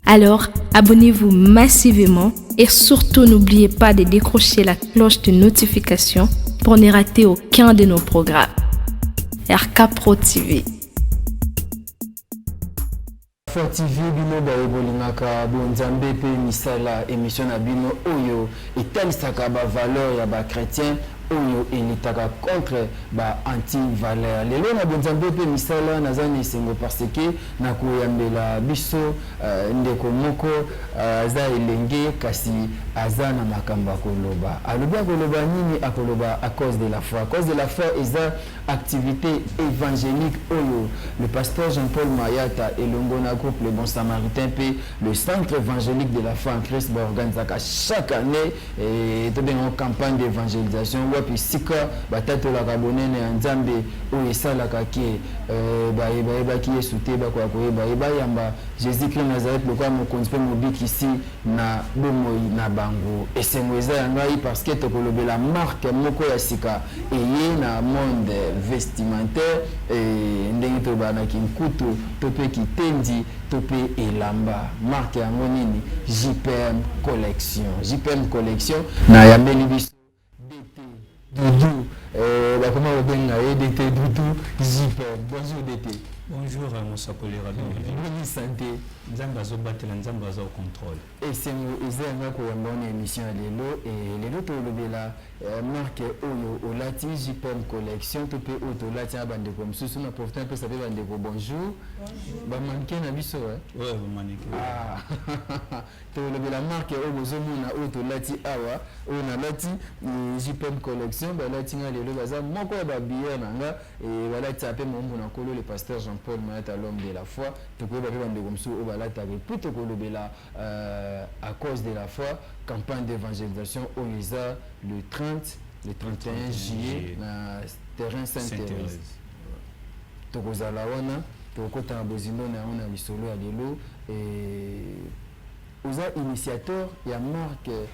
Alors, abonnez-vous massivement et surtout n'oubliez pas de décrocher la cloche de notification pour ne rater aucun de nos programmes. RK Pro TV. Alpha TV bino baye bolingaka bonzambe mpe misala emission na bino oyo etalisaka bavaleur ya bachrétien oyo elitaka contre ba anti-valeur lelo na bonzambe mpe misala naza na esengo parce que Na koyambela biso ndeko moko aza elenge kasi aza na makambo ya koloba alobi akoloba nini akoloba à cause de la foi à cause de la foi eza activite evangelique oyo le pasteur Jean Paul Mayata elongo na groupe le bon samaritain pe le centre evangelique de la foi en Christ ba organisaka chaque annee Eh, tobenga yango campagne d'évangélisation wapi esika batatolaka bonene ya nzambe oyo esalaka ke eh, baye bayebaki yesu te bakoya koyeba ye bayamba jésus christ nazareth lokola mokonzi mpe mobikisi na bomoi na bango esengo eza ya ngai parce que tokolobela marke moko ya sika eye na monde vestimentaire eh, ndenge tobanaki nkutu to mpe kitendi to pe elamba marque yango nini jpm collection jpm collection na yambeli biso DT doudou euh bakoma kobenga ye DT doudou jpm bonjour DT bonjour mosakoli rabin boni sante nzambe azobatela nzambe aza au controle Esengo eza ya nga koyamba yo na emission ya lelo. Et lelo tolobela marque oyo olati JPM collection to pe oyo tolati na bandeko mosusu. Na profite napesa pe bandeko bonjour. Bonjour. Ba mannequin na biso eh. Ouais, ba mannequin. Ah. Tolobela marque oyo bozomona oyo tolati awa oyo nalati JPM collection balati nga lelo baza moko ya ba billets na nga. Eye balatisa pe moumbu na Nkolo le pasteur Jean Paul Mayata l'homme de la foi tokoyeba pe ba ndeko misusu oyo balataka et puis tokolobela à cause de la foi campagne d'evangelisation oyo eza le 30 le 31 juillet na terrain Sainte Therèse tokozala wana tokokota na bozindo na yango na lisolo ya lelo et Oza initiateur ya marque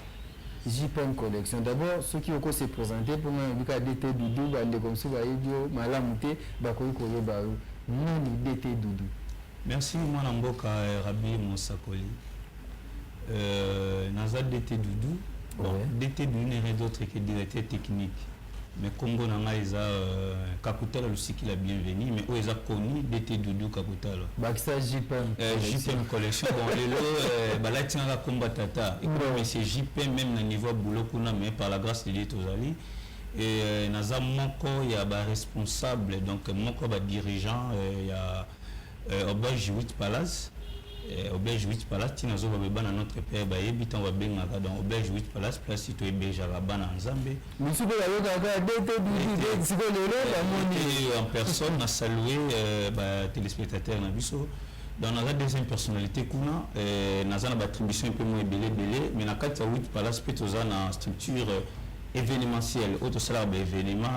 JPM collection d'abord soki oko se presenter po nga nayebi kaka DT Doudou ba ndeko mosusu bayebi yo malamu te bakoki koyeba yo nani DT Doudou? Merci mwana mboka Rabbi mosakoli euh naza DT Doudou bon ouais. DT Doudou n'est rien d'autre que directeur technique Mais kombo na nga eza euh, Kakutala Lusikila Bienvenue mais oyo eza connu DT Doudou Kakutala. Bakisa JPM. Euh, JPM collection bon lelo euh, balati nga komba tata. Et comme mais c'est JPM même na niveau boulot kuna mais par la grâce de Dieu tozali et euh, naza moko ya ba responsable donc moko ba dirigeant euh, ya Euh, auberge 8 palace euh, auberge 8 palace ntina azoloba bana notre père bayebi ntango babengaka donc auberge 8 palace place to ebergeaka bana ya nzambe misusu bayokaka dete bibi siko lelo bamoni euh, en personne na salue batelespectateur na biso donc naza deuxième personnalité kuna naza na batribution mpe mwa ebele ebele mais na kati ya 8 palace mpe toza na structure événementielle oyo tosalaka baévénement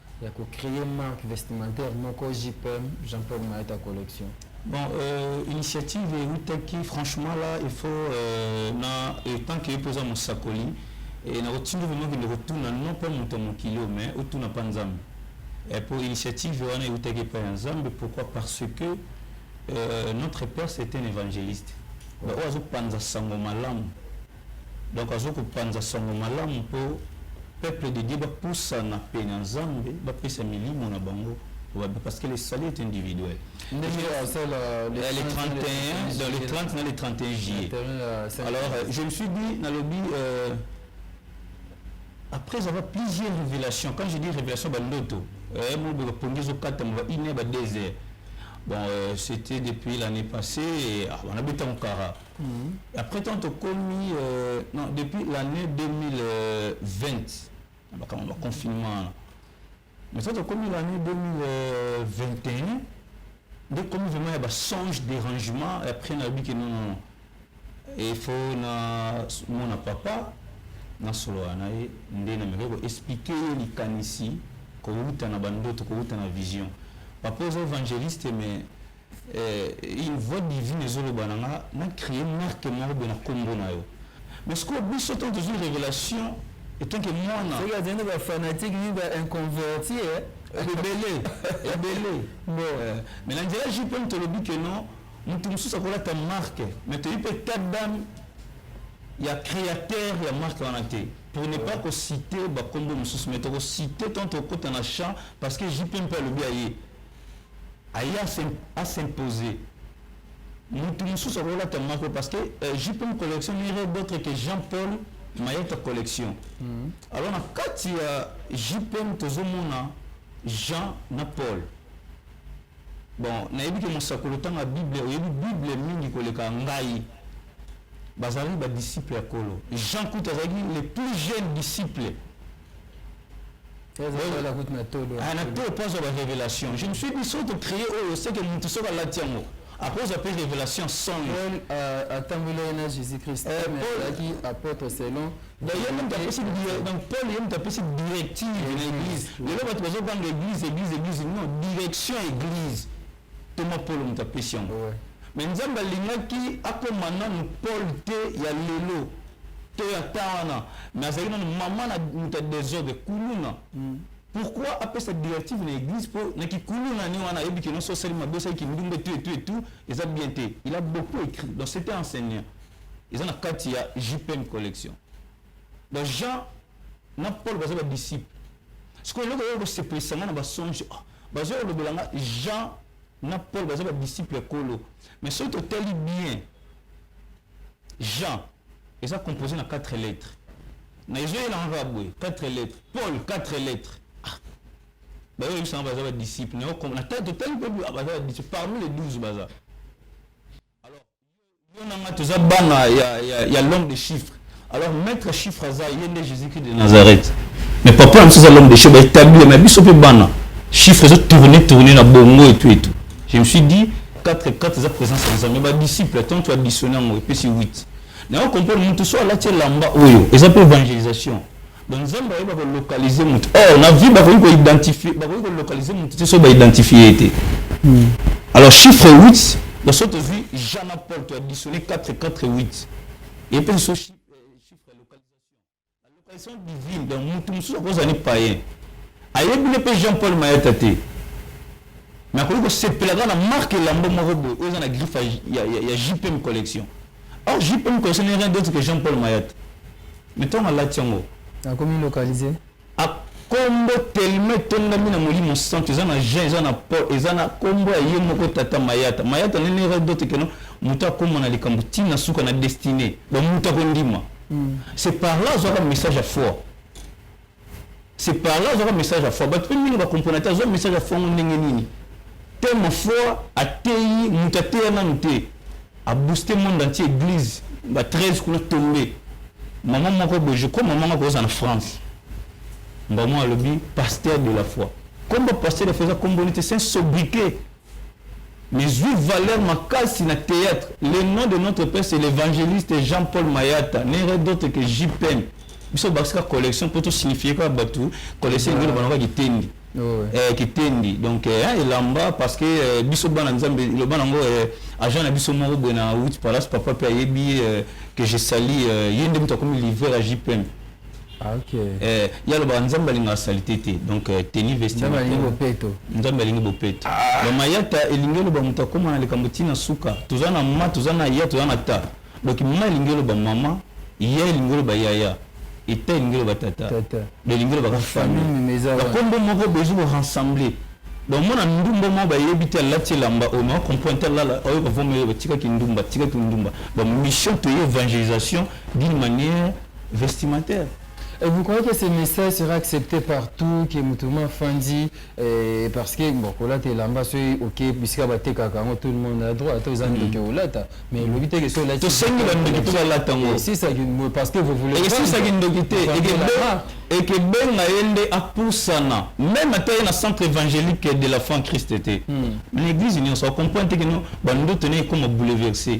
ya ko creer marque vestimentaire moko JPM Jean Paul Maeta collection. Bon, euh, initiative eutaki franchement là il faut euh, na etant que epoza mosakoli et na otindi vraiment kende kotuna non pas moto ya mokili oyo mais otuna mpa nzambe mpo initiative wana eutaki epai ya nzambe pourquoi parce que euh, notre père c'est un évangéliste oyo azopanza sango malamu Donc azo ko panza sango malamu po peuple de Dieu ba pusana pene ya Nzambe ba pesa milimo na bango babe parce que le salut est individuel. Ndenge asala euh, le 31 dans le 30 na le 31 juillet. Euh, Alors euh, je me suis dit na lobi euh, après avoir plusieurs révélations quand je dis révélation ba ndoto eh mo ba pongezo kata mo ba ine ba désert. Bon euh, c'était depuis l'année passée et ah, on a beton kara. Euh, Mm. Après tant tokomi euh, non depuis l'année 2020 bakama ba confinement mais tant tokomi l'année 2021 nde komi vraiment ya ba songe dérangement après nayebi ke non non il faut na mona papa nasolola na ye nde nameki koexplike ye likanisi kowuta na bandoto kowuta na vision papa oza évangéliste mais Eh, une voix divine ezoloba na nga na cree marque moko boye na kombo na yo mais sikoyo biso ntango tozwi révélation etanke mwana soki azali na bafanatique nini ba inconverti eh? ebele ebele bon eh, mais na nzela jupe mpe tolobi ke non moto mosusu akolata marque mais toyebi mpe ta dame ya créateur ya marque wana te pour ne pas kocite bakombo mosusu mais tokocite ntango tokokota na champ parce que jupe mpe alobi aye aye a s'imposer mutu mususu akolata moko parce que euh, jpm collection n'irait d'autre que jean paul mayata collection mm -hmm. alors na kati ya jpm tozomona jean na paul bon nayebi ke mosakoli otanga bible oyebi bible mingi koleka ngai bazalaki badisciple ya kolo jean kutu azalaki le plus jeune disciple nato posa ba révélation je me suis dit soki tocréer oyo seke motu soki alati yango akozwa mpe révélation songe atambolaki na jésus christ alaki apôtre selon donc ye moto apesi donc paul ye moto apesi directive na église lelo bato bazobanga église église église non direction église Ntoma Paulo moto apesi yango. Mais Nzambe alingaki akoma nanu Paul te ya lelo to ya temps wana, mais azalaki nanu mama na moto ya desordre kuluna. Mm. Pourquoi apesa directive na église po na kikuluna ni wana ayebi kino so sali mabe sali kindumbe tout et tout et tout eza bien te. Il a beaucoup écrit donc c'était enseignant. Eza na kati ya JPM collection. Donc Jean na Paul baza ba disciples. Sikoyo eloko oyo kosepelisa nga na basonge oh, bazoya kolobela nga Jean na Paul baza ba disciples ya Nkolo. Mais soki totali bien Jean eza composé na 4 lettres. Na ezoyelanga kaka boye 4 lettres. Paul 4 lettres. Ah. Bayo yebisanga baza ba disciples. Na totali mpe baza ba disciples parmi les 12 baza. Alors Yo na nga toza bana ya, ya, ya l'homme de chiffre. Alors maître chiffre aza ye nde Jésus-Christ de Nazareth. Mais papa na biso aza l'homme de chiffre, baetabli ye, mais biso mpe bana. Chiffre ezo tourner tourner na bongo et tout et tout. Je me suis dit 4 4 eza présence ya Nzambe. Ba disciples tant tu additionner yango epesi 8. Na yo comprendre mutu so alati elamba oyo eza mpe evangelisation. Donc Nzambe ayeba ko localiser mutu. Or na vie bakoki ko identifier, bakoki ko localiser mutu te soki ba identifier ye te. Hmm. Alors chiffre 8, dans ce tozwi Jean Paul to additionner 4 4 8. Et puis ce chiffre chiffre localisation. La localisation divine dans mutu mususu akozala ni païen. Ayebi ne pe Jean Paul Mayata te. Mais akoki ko sepela na marque lambo moko boye oyo eza na griffe ya ya, ya JPM collection. Or jupe oyo mukolo ce n'est rien d'autre que Jean Paul Mayata. Mais tango alati yango. Akomi localiser. A kombo tellement etongami na molimo santu eza na Jean eza na Paul eza na kombo ya ye moko tata Mayata. Mayata ce n'est rien d'autre que non moto akoma na likambo ti na suka na destinee. Donc moto akondima. Mm. C'est par là azwaka message ya foi. c'est par là azwaka message ya foi bato mpe mingi bakomprona te azwa message ya foi yango ndenge nini tellement foi ateyi moto ateya nanu te abooste monde entier église ba 13 kuna tombe mama moko boye je crois mama moko aza na france mbamo alobi pasteur de la foi kombo pasteur de la foi eza kombo nete c'est un sobriquet Mais zui valeur makasi na theatre le nom de notre père c'est l'evangeliste Jean Paul Mayata n'est rien d'autre que JPM biso tobakisi kaka collection po to signifier kaka batu collection elingi loba na kaka kitendi Oh, ouais. eh, kitendi donc eh, hein, elamba parce que eh, biso bana nzambe loba nango eh, agent na biso moko boye na wit palace papa mpe ayebi eh, que je sali eh, ye nde moto akomi livreur ya jpm Ah, okay. eh, ye alobaka nzambe alingaka salite te donc eh, teni vestiaire nzambe alingi bopeto ah. bamayata elingi eloba moto akóma na likambo ntina suka toza na ma toza na ya toza na ta donc ma elingi eloba mama ya elingi eloba yaya eta elingi eloba tata do elingi elobaka famille bakombo moko bezu korensemble donc mwana ndumba moko bayebi te alati elamba oyo na comprendre te alala oyo bavomeli batikaki ndumba tikaki ndumba donc mission toye évangélisation d'une manière vestimentaire. Et vous croyez que ce message sera accepte par tout que moto ma fandi eh, parce que bon kolata elamba soki oke bisika batekaka yango tout le monde a droit ata oza ndoki mm. olata mais elobi te ke so olati tosengi bandoki mpe balata yango eh, parce que vous voulez esisaki ndoki te ekebenga ye nde apusana meme ata ye na centre évangélique de la franc christ te hmm. na église nyonso acomprendre te kino bandoto na ekoma bouleverse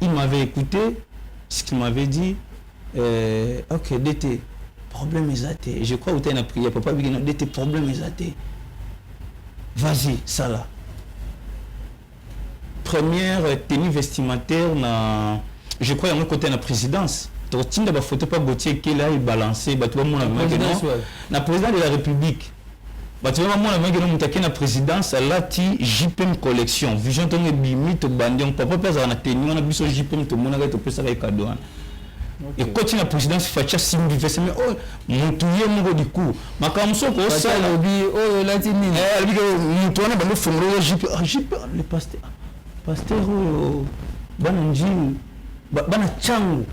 il m'avait écouté ce qu'il m'avait dit euh, ok DT problème eza te je crois otali na prière papa abiki na DT problème eza te vas-y sala première tenue vestimentaire na je crois yango ekotali na présidence tokotinda bafoto mpa gautier ekela ebalanse bato bamona vraiment na président de la république Bato ya bamona meke na moto ake na presidence alati JPM collection vision ntongo ebimi tobandi yango papa mpe azalaka na teni wana biso JPM tomonaka ye topesaka ye kado wana ekoti na presidence facha simbi vese me oyo motu ye moko diku makambo mosusu okosala alobi oyo olati nini eh, alobi motu wana bando fongolola jipe ah, jipe ah, le pasteur ah, pasteur oyo bana njini bana ntango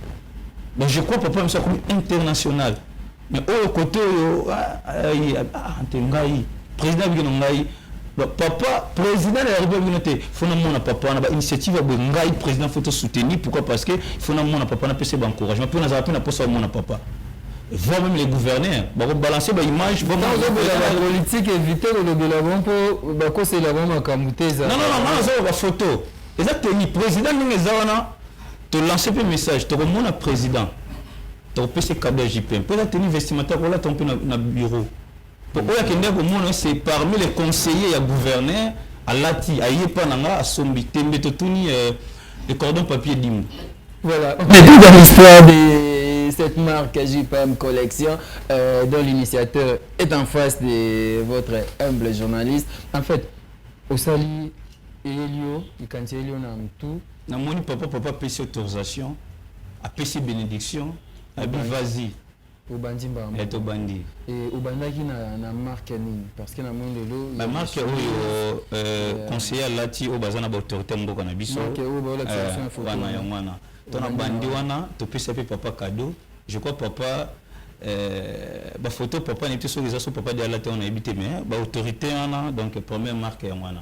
mais je crois papa mosu akomi international mais oyo kote oyo ante ngai président biki na ngai papa président ya république bino te fo namona papa wana bainitiative ya boye ngai président fo tosoutenir pourquoi parce que fo namona papa napesa ye baencouragement mpe nazala mpe na mposa bamona papa voir même les gouverneurs bakobalancer baimage politique évite kolobela bango mpo bakosela bango makambo te ezaa non non non nazoloba photo eza teni président ndenge eza wana To lancer pe message toko mona president toko pese cadeau ya JPM po eza tenue vestimentaire ko lata mpe na bureau po oyo akende ko mona c'est parmi les conseillers ya gouverneur alati aye pa na nga asombi tembe to tuni euh, le cordon papier dimbu voilà on est dans l'histoire des cette marque JPM Collection, euh, dont l'initiateur est en face de votre humble journaliste. En fait, au salut, Elio, il cancelli, on a tout. Na moni papa papa apesi autorisation apesi benediction abi vazi obandi mbamba eh, tobandi eh, obandaki na, na marque ya nini parce que na moni lelo ba marque oyo euh, euh, conseiller alati oyo baza na baautorité mboka na biso wana yango wana to na bandi wana topesa mpe papa cadeau je crois papa euh, bafoto papa nayebi te soki eza so papa de alati wana nayebi te mais baautorité wana donc première marque yango wana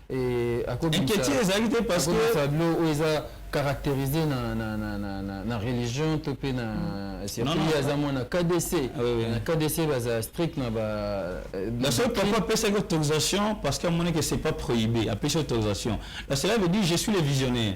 inquiétude ezalaki te parce que tableau oyo oh, eza caractérisé na, na, na, na, na, na religion to mpe na mm. surtout aza mwana kdc ah, oui, oui. na kdc baza strict na ba euh, la seule papa apesaki autorisation parce que amonaki c'est pas prohibé apesi autorisation la cela veut dire je suis le visionnaire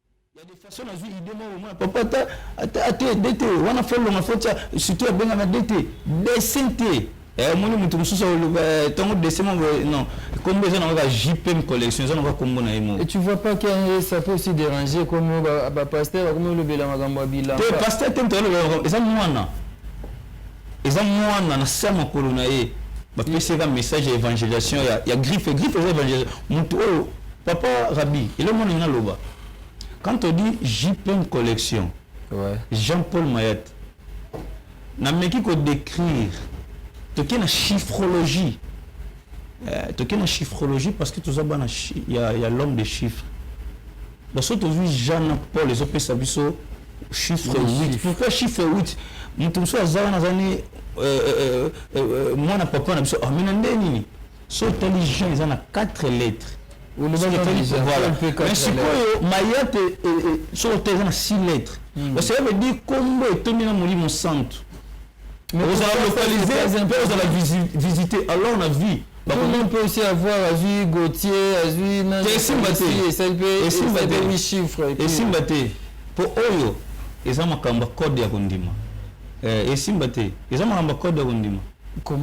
façon nazwi idée moko omona papa ata ata ata dete wana fo longa fo tya surtout abengaka dete dessin te eh, omoni moto mosusu eh, ntango dessin moko eh, non kombo eza na kaka jpm collection eza na kaka kombo na ye moko tu vois pas que ça peut aussi déranger comme ba pasteur bakomi olobela makambo ya bilamba te pasteur te moto alobela eza mwana eza mwana na se ya makolo na ye bapesi ye ka message ya évangélisation ya, ya griffe griffe eza évangélisation moto oyo papa rabi ele mwana ngai naloba quand on dit jpm collection ouais. jean paul mayat nameki kodécrire toke na chiffrologie euh, toke na chiffrologie parce que toza bana ya, ya l'homme de chiffre donc soki tozwi jean na paul ezopesa biso chiffre 8 pourquoi chiffre 8 moto mosusu aza wana aza ne euh, euh, euh, mwana papa na biso amena ah, nde nini so otali jean eza na 4 lettres sikoyo mayate soki otali eza na 6 lettres hmm. parce que veut dire kombo etondi na molimo santu ozala localise mpe ozala visite alors na vie bakomi mpe aussi avoir azwi gautier azwi esimba te esimba te chiffre esimba te mpo oyo eza makambo ya code ya kondima eh, esimba te eza makambo ya code ya kondima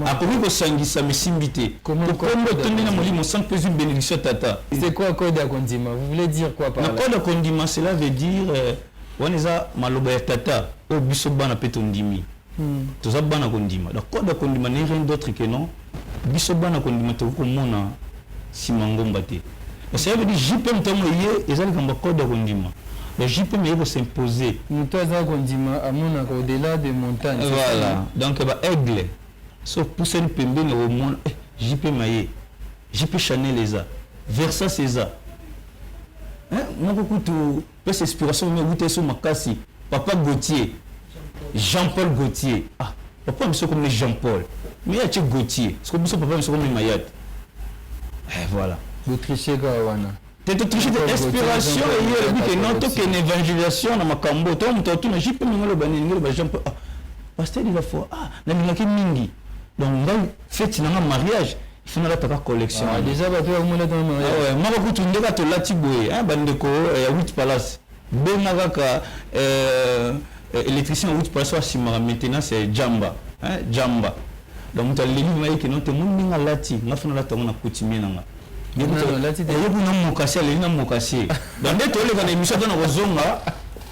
akomi kosangisa misimbi te kokombo etondi na molimo sans mpe ezwi bénédiction tata c'est quoi code ya kondima vous voulez dire quoi par na code ya kondima cela veut dire euh, wana eza maloba ya tata oyo biso bana mpe tondimi hmm. toza bana kondima donc code ya kondima ne rien d'autre que non biso bana kondima tokoki komona nsima ngomba te parce que ayebedi jpm ntango eye eza likambo ya code ya kondima donc jpm eye kosimpose moto aza kondima amonaka au-delà de montagne voilà donc ba aigle so pusani pembeni omona eh, jpm aye jp chanel eza versas eza moko kutu Pesa explication vraiment ewuta esu makasi papa Gauthier Jean Paul Gauthier ah papa na biso ekomi Jean Paul mais atie Gauthier siko biso papa na biso komema yate eh voilà Bo tricher kaka wana. te to tricher te Jean Paul Gauthier, inspiration Jean Paul eye elobi Gauthier, ke non Gauthier. tokende evangelisation na makambo to moto atuna jp ndenge oloba nini ndenge oloba Jean Paul ah pasteur de la foi ah nalingaki mingi donc ngai feti na nga mariage ifo nalataka collection ah, deja bato yakomalata na mariage ah moko kutu nde kaka tolati boye ah, bandeko eh, ya wit palace benga kaka eh, eh, électricien ya wit palace asimaka maintenance ya jamba jamba donc moto aleli ngai kino te moni ndenge alati nga fo nalata yango na coutumier na nga Yoku na mokasi aleli na mokasi. Bande toleka na emission tona kozonga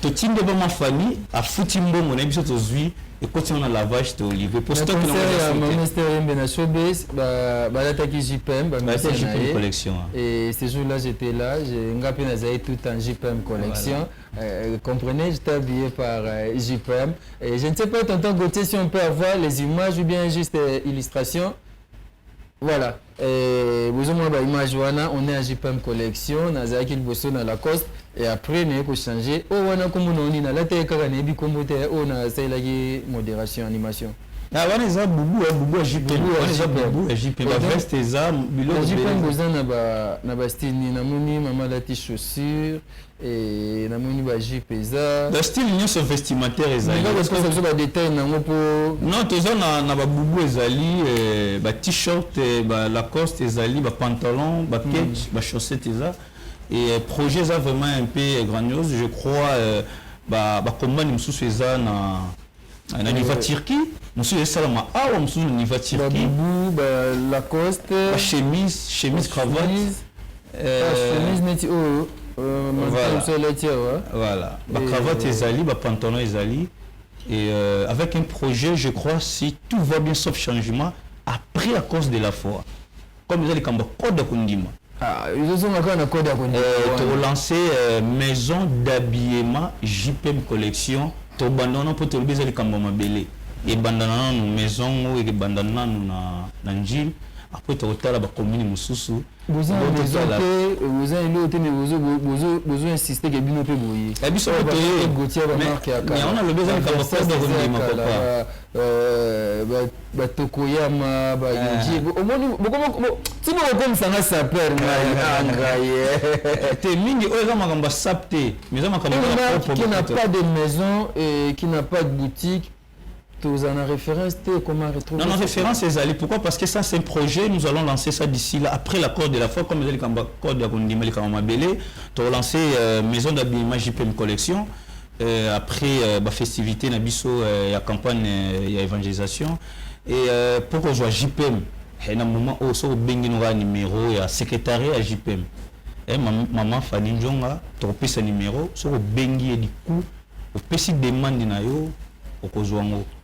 totinde ba mafani afuti mbongo na biso tozwi ekoti na lavage to livre pour stock na ya ministère yembe na showbiz ba balataki JPM ba ministère JPM collection et ce jour là j'étais là je nga pe nazali tout en JPM collection euh, comprenez j'étais habillé par euh, JPM et je ne sais pas tonton Gauthier si on peut avoir les images ou bien juste euh, illustration voilà Eh, bozo mona ba image wana on est à JPM collection nazalaki liboso na Lacoste et après naye ko changer oh wana kombo na oni nalataki kaka nayebi kombo te oh nasalelaki moderation animation ah wana eza bubu ya bubu ya JPM wana eza bubu ya JPM ba veste eza biloko JPM boza na ba na ba style ni namoni mama lati chaussure Eeeee na moni ba jupe eza. Ba style nionso vestimentaire ezali. Ndeko azo pesa biso ba details na ngo po. Non toza na na ba boubou ezali ba t-shirt ba lacoste ezali ba pantalon ba ketch ba chaussette eza et projet eza vraiment un peu grandiose je crois ba ba combandi mususu eza na na niveau ya Turquie mosusu esalama awa mosusu na niveau ya Turquie babubu ba Lacoste ba chemise chemise cravate euh, chemise neti oyo voilà ba cravate ezali ba pantalon ezali et euh, avec un projet je crois si tout va bien sauf changement après à cause de la foi comme eza likambo ya code ya kondima ah, ezozonga kaka na code ya kondima eh, tokolanse eh, maison d'habillement jpm collection tobanda wana mpo tolobi eza likambo ya mabele ebandana nanu maison ngo ekebanda nanu na, na njili après tokotala bakomini mosusu boza eloo te me bozo insiste ke bino mpe boye eh, biso yango nalobi eza likambo kondima papa Euh, ba tokoyama ba ah. yinji omoni ti bokokomisa nga saper ngai eh. te mingi oyo eza makambo ya sap te mais eza makambo qui n'a pas de maison et qui n'a pas de boutique toza na référence te comment retrouver non, non référence ezali pourquoi parce que ça c'est un projet nous allons lancer ça d'ici là après l'accord de la foi comme ezali kamba code ya kondima likambo mabele tokolancer euh, maison d'habillement jpm collection Après ba festivites na biso ya campagne ya evangelisation et mpo kozwa JPM na moment oyo soki obengi no kaka numero ya secretariat ya JPM maman Fanny Ndjonga tokopesa numero soki obengi ye du coup opesi demande na yo okozwa yango.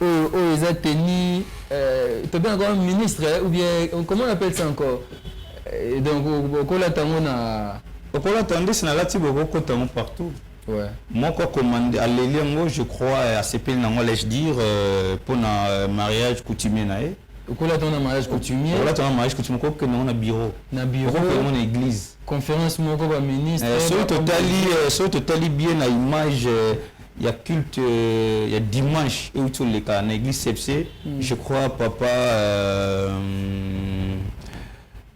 Oyo oyo eza tenue euh, tobe na koma ministre ou bien comment on appelle ça encore euh, donc okola tango na okola tandis na lati boko kota ngo partout ouais moko commande aleli ngo je crois à sepel na ngo laisse dire euh, pour na euh, mariage coutumier na ye okola tango na mariage coutumier okola tango na mariage coutumier ko kende ngo na bureau na bureau ko kende ngo na église conférence moko ba ministre euh, soki totali euh, soki totali bien na image euh, ya culte euh, ya dimanche euti oleka na église sepse mm. je crois papa euh,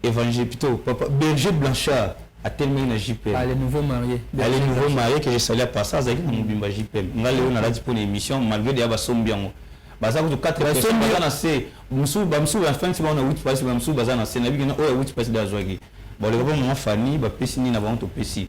évangile plutôt papa berger blanchard atelemaki na jpm ah, le nouveau marié ah, le nouveau marié que je salia par ça azalaki na mobimba jpm nga lelo nalati mpo na émission malgré deya basombi yango baza kutu 4 personnes baza na se mosusu bamosusu bafansi bango na wit pasi bamosusu baza na se na bikena oyo ya wit pasi de azwaki baleka mpo mama fani bapesi nini na bango topesi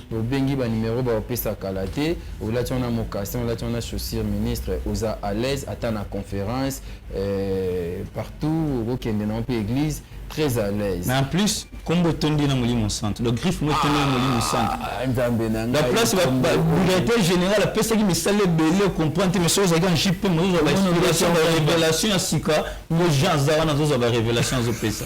Obengi ba numero ba opesa kala te olati wana mocassin olati wana chaussure ministre oza alaise ata na conference eh, partout okokende na mpe eglise très à l'aise. Mais en plus, comme tondi na molimo santo. Donc griffe moi tondi na molimo ah, santo. Nzambe na ngai. La place ba directeur général apesa ki misale belé comprendre mais soza ga JP moi zo ba inspiration ba révélation ya sika ngo Jean Zawana zo ba révélation zo pesa.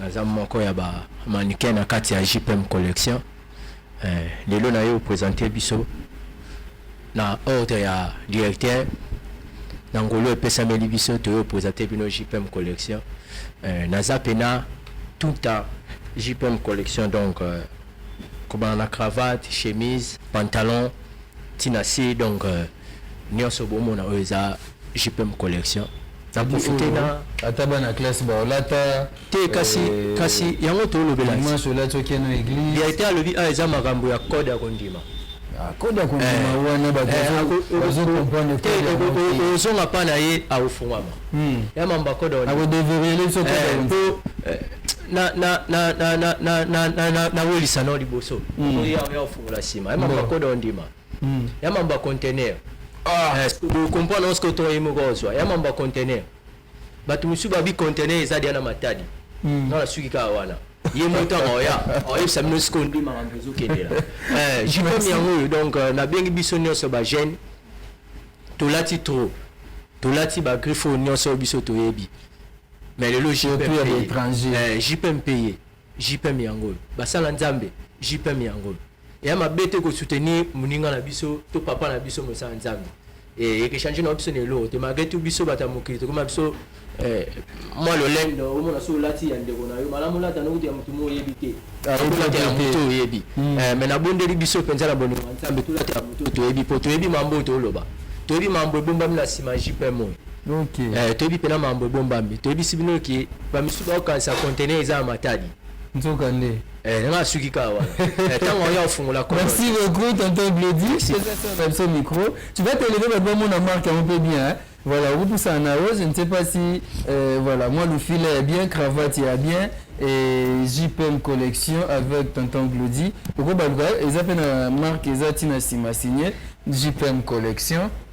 naza moko ya ba mannequin na kati ya JPM collection eh, lelo na yo presente biso na ordre ya directeur na ngolo epesameli biso toyo presente bino JPM collection eh, naza pena tout a JPM collection donc euh, kobana na cravate chemise pantalon tina si donc euh, nionso bomona oyo eza jpm collection na profite na ata bana classe baolata te kasi euh, kasi yango tolobela dimanche olati okeno église verité alobi awa ah, eza makambo ya code ya kondima ah, code ya kondima eh. wana bazozonga eh, pa na ye akofungwama hmm. ya mamba code nawelisa nao liboso oya oya ofungola nsima ya mamba code ondima mm. ya mambo ya contener ah. eh, okomprendre oske otonga ye moko ozwa ya mambo ya contener bato mosusu babi contener eza dia na matadi mm. nga nasuki kaka wana ye motaka oya oyebisa bino sikoyo nde makambo ezokendela eh, jikomi yango oyo donc euh, nabengi biso nyonso bagene tolati trop tolati bagriffe oyo nyonso oyo biso toyebi mais lelo jpm paye JPM yango oyo basala nzambe JPM yango oyo eya mabe te ko soutenir muninga na biso to papa na biso mosala nzambe eh, eke changer na biso na eloko te malgré tout biso bato ya mokili tokoma biso eh, mwa lolendo omona so olati ya ndeko na yo malamu olata nokuti ya motu mo oyebi te olata ya motu oyebi hmm. eh, me nabondeli biso mpenza na bolingo ya nzambe tolata ya motu toyebi mpo toyebi mambo oyo tooloba toyebi mambo ebombami na nsima ya jpm oyo Okay. Eh, toyebi pena mambo ebombami toyebisi bino ke bamisusu bakokanisa contener eza ya matadi nzoka nde eh, nanga asuki kaka wana eh, ntango oya ofungola kolo merci beaucoup tonton bledi na biso micro tu vas te lever bato bamona marque yango mpe bien hein? voilà okopusana na yo je ne sais pas si euh, voilà moi lufila ya bien cravate ya bien et jpm collection avec tonton glodi okobaluka eza mpe na marque eza ntina nsima signe jpm collection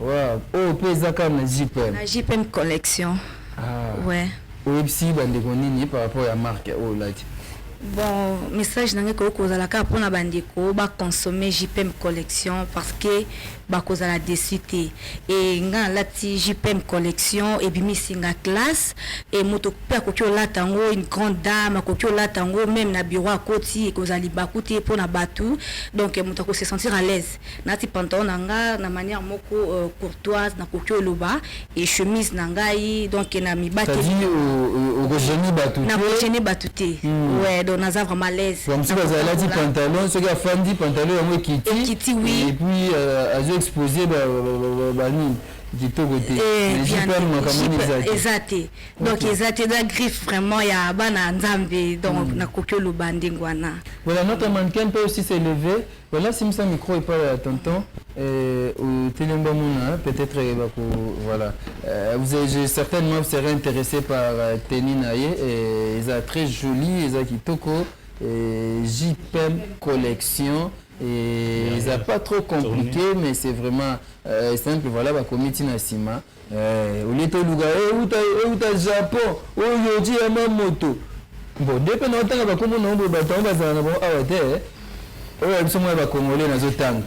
Wow, oyo pe eza kaka na JPM. Na JPM collection. Ah. Ouais. Oyebisi bandeko nini par rapport ya marque oyo olati? Bon, message na ngai ekoki kozala kaka mpo na bandeko baconsommer JPM collection parce que bakozala desu te. E ngai nalati JPM collection ebimisi nga classe e moto mpe akoki olata yango une grande dame akoki olata yango meme na bureau akoti ekozala libaku te mpo na bato donc moto akosesentir à l'aise. Nati pantalon na nga na manière moko euh, courtoise na koki oloba et chemise na ngai donc na mibaki okojeni batu na kojeni batu te hmm. ouais donc naza vraiment à l'aise comme si baza lati pantalon soki afandi pantalon yango ekiti ekiti oui et puis euh, azo exposer ba ba nini kitoko te eh, eza te donc eza te eza griffe vraiment ya bana nzambe donc hmm. nakoki oloba ndenge wana voilà notre mannequin peut aussi s'élever Bella simisa micro epai ya tonton otelemi bamona peut-être bako voilà vous avez certainement vous serez intéressé par tenue na ye eza très jolie eza kitoko JPM collection eza pas trop compliqué mais c'est vraiment simple voilà bakomi ntina nsima Eh, olie toluka euta eh, euta eh, japon oyo ti ya mamoto bon nde mpe naotanga bakombo na yango bato yango bazala na bango awa te oyo ya biso mwa bakongole nazotanga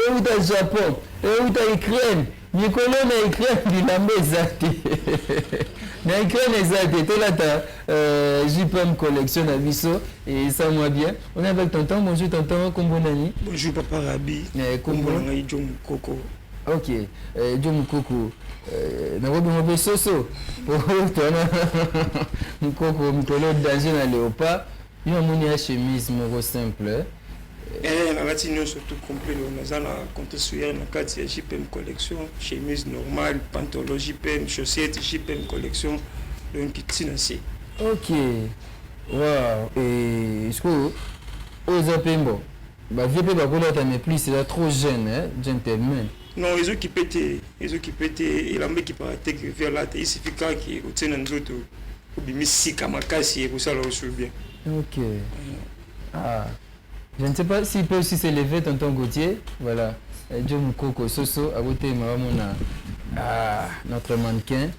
euta eh, japon euta ukraine mikolo na ukraine bilamba eza te na ukraine eza te tolata jpm collection na biso eza mwa bien on est avec tonton bonjour tonton kombo nani bonjour papa rabi kombo na ngai jo mokoko Ok, eh, Joe Mukoko, eh, nakobi ngo pe soso po tona Mukoko mikolo danger na Leopard. Yo namoni ya chemise moko simple. Eh, nalati nyonso tout complet lelo naza na compte suyer na kati ya JPM collection, chemise normale, pantalon JPM, chaussette JPM collection, donc ti na se. Ok, wow, eh, sikoyo oyo eza pe mbo Ba vieux pe bako lata mais plus eza trop jeune eh gentlemen. Non ezo kipe te ezo kipe te elamba ekipaka te que vieux alata il suffit kaka que otie na nzoto obimi sika makasi ekosala yo sur bien. Ok. Ah. Je ne sais pas s'il peut aussi se lever tonton Gauthier. Voilà. Joe Mukoko Soso akotelema bamona ah, notre mannequin.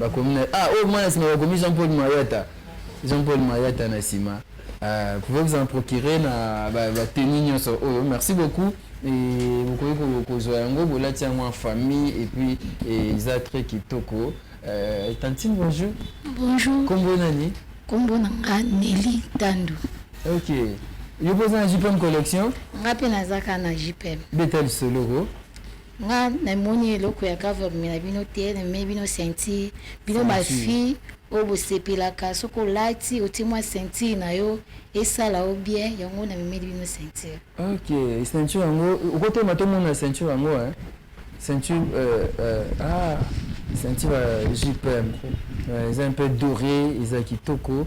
Bakomi na ah oyo mwana sima bakomi Jean Paul Mayata Jean Paul Mayata na sima euh, pouvez vous en procurer na ba, ba tenue nyonso oyo merci beaucoup et bokoki kozwa yango bolati yango en famille et puis eza eh, très kitoko euh, tantine bonjour bonjour kombo nani kombo na nga Nelly Tandu ok yo mpe oza na jpm collection nga mpe nazaka na jpm beta lisolo ko Nga na moni eloko ya government na bino te na mimi bino ceinture bino ba fille oyo bosepelaka soki olati otie mwa ceinture na yo esala yo bien yango na mimeli bino ceinture ok ceinture yango okotelema tomona ceinture yango eh? ceinture euh, euh, ah ceinture euh, jpm euh, eza un peu doré eza kitoko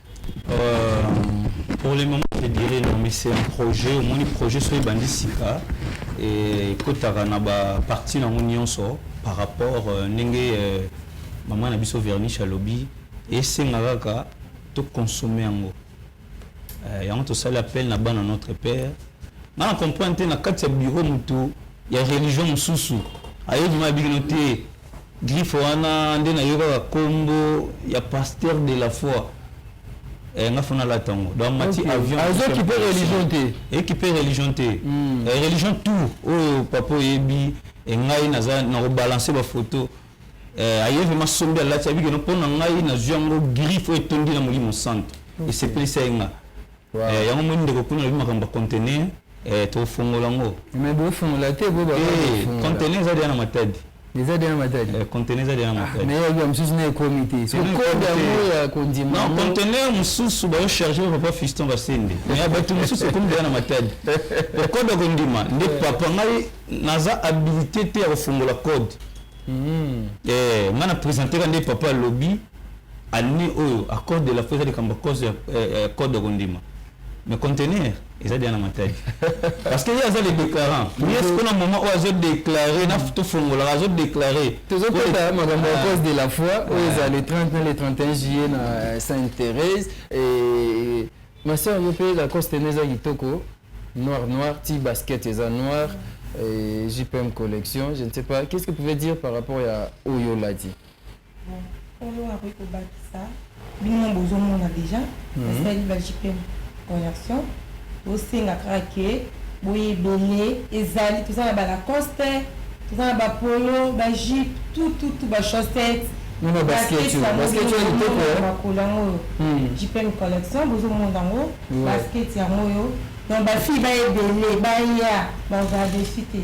Euh, pour le moment, je dirais non, mais c'est un projet. Au moins, le projet soit bandit sika et kotaka na ba partie na nyonso par rapport euh, ndenge euh, maman na biso verniche alobi esengaka kaka to consommer yango euh, yango tosali appel na bana notre père nga na comprendre te na kati ya bureau motu ya religion mosusu ayebi ma bino te Griffe wana nde na yokaka kombo ya pasteur de la foi. Eh, nga fona la tango. Donc mati okay. avion. Azo ah, kipe religion te. Et kipe religion te. Mm. Eh, religion tout. Oh, papa yebi. Et ngai naza na rebalancer ba photo. Eh, aye vraiment sombi alati abiki no pona ngai na zuango griffe etondi na molimo santo. Okay. Et c'est plus ça nga. Wow. Eh, yango moni ndeko kuna alobi makambo ya conteneur eh, tokofongola yango me bofongola te bo ba eh, conteneur eza deya na matadi eza deya na matadi eh, conteneur eza deya na ah, matadi me yabi ya mosusu na ekomi te sokoda yango ya kondima non conteneur mosusu bayo charge ba papa fiston basende me ya bato mosusu ekomi deya na matadi okoda kondima nde papa ngai naza habilité te ya kofongola code mm. eh, ngai na presenteka nde papa alobi Annee oyo a code de la foi eza likambo ya cause ya code ya kondima mais conteneur eza deja na matadi parce que ye aza le déclarant mais ce kona moment oyo azo déclare na tofongolaka azo déclare tozokota makambo ya cause de la foi oyo eza le 30 na le 31 juillet na euh, sainte thérèse et ma soeur yo mpe la cause tene eza kitoko noir noir ti basket eza noir et jpm collection je ne sais pas qu'est ce que vous pouvez dire par rapport ya oyo olati oyo akoki kobakisa bino bozomona deja basali mhm. ba jpm conversion bosenga kaka ke boye ebele ezali toza na balacoste toza na bapolo bajipe tututu bachaussette makolo yango oyo jpm collection bozomona yango basket yango oyo donc bafille baebele baya bazala desu te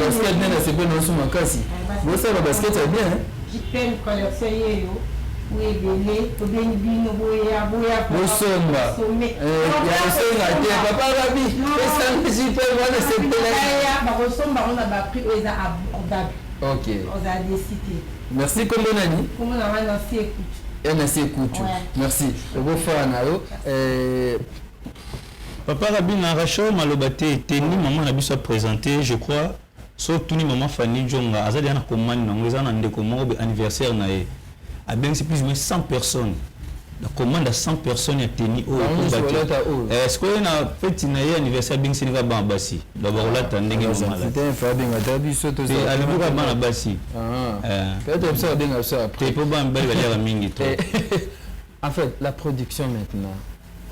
basket nde nasepeli na biso makasi bosala basket ya bien bosomba yakosenga eh, te papa rabi esanga jipe wana sepelaki merci kombo nani nasi ekutu merci okofaa na yo eh, Papa Rabin na Rachel maloba te tenue maman na biso a presente je crois so tuni maman Fanny Djonga aza deja na commande na ngo eza na ndeko moko be anniversaire na ye abengisi plus ou moins 100 personnes na commande ya 100 personnes ya tenue oyo Bango nyonso ekomba te. balata oyo. Eh, sikoyo ye na feti na ye anniversaire abengisi nika bana basi donc bakolata ndenge maman alati Putain, fa benga ata biso to Pe alobi kaka bana basi Ah. Eh. Peut-être biso abenga biso après. te mpo bana mibali baliaka mingi trop En fait, la production maintenant.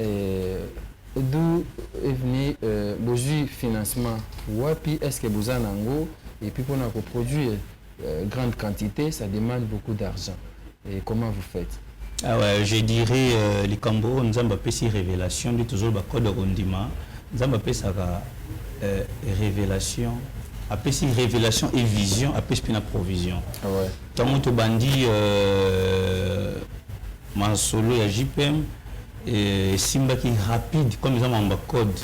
Euh d'où est venu euh, bozui financement wapi? Est ce que boza nango? Et puis pona ko produire euh, grande quantite ça demande beaucoup d'argent et comment vous faites? Ah ouais, je dirais euh, likambo oyo nzambe apesi révélation nde tozoloba code ya kondima nzambe apesaka euh, révélation apesi révélation et vision apesi mpe na provision ntango ah ouais. tobandi euh, Masolo ya JPM esimbaki rapide comme eza makambo ya code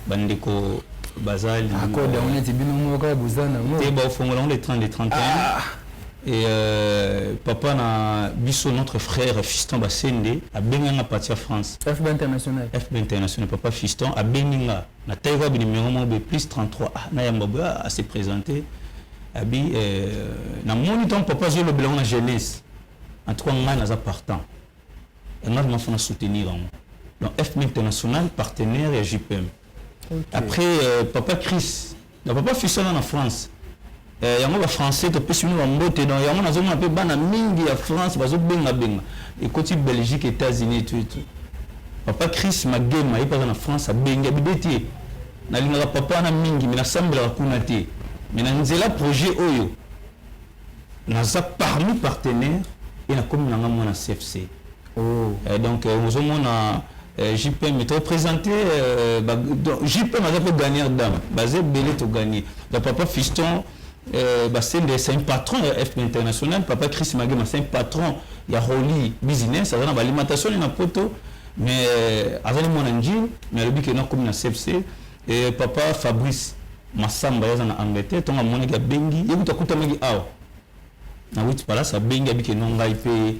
bandeko baza code yango neti bino moko kaka boza nango te baofongola yango le 30 de 31 Et euh, papa na biso notre frère Fiston Basende abengi nga parti ya France. FB international. FB international papa Fiston abengi nga na taille ba numéro mo be plus 33 ah na yamba ba ah, à se présenter. Abi euh, na moni ton papa zo lobela na jeunesse. en tout cas ngai naza partant yangai vraiment fona soutenir yango donc fm international partenaire ya jpm okay. après euh, papa chris na papa fisana na france euh, yango bafrançais topesi bino bambote donc yango nazomona mpe bana mingi ya france bazobengabenga ekoti belgique états-unis etu etu papa chris magema ye mpe aza na france abengi abibe te nalingaka papa wana mingi me nasambelaka kuna te me na nzela projet oyo naza parmi partenaire et nakomi nanga mwana CFC oh. euh, donc euh, ozomona euh, JPM to présenté euh, ba, donc, JPM aza mpe gagneur dame baza ebele to gagné donc papa Fiston euh, basende c'est un patron ya FP international papa Chris Magema c'est un patron ya Roli business aza na balimentation na poto mais euh, azali mwana njini mais alobi ke nakomi na CFC Eh papa Fabrice Massamba ye aza na Angleterre ntango amonaki abengi ye kutu akutamaki awa na Wits Palace abengi abiki eno ngai mpe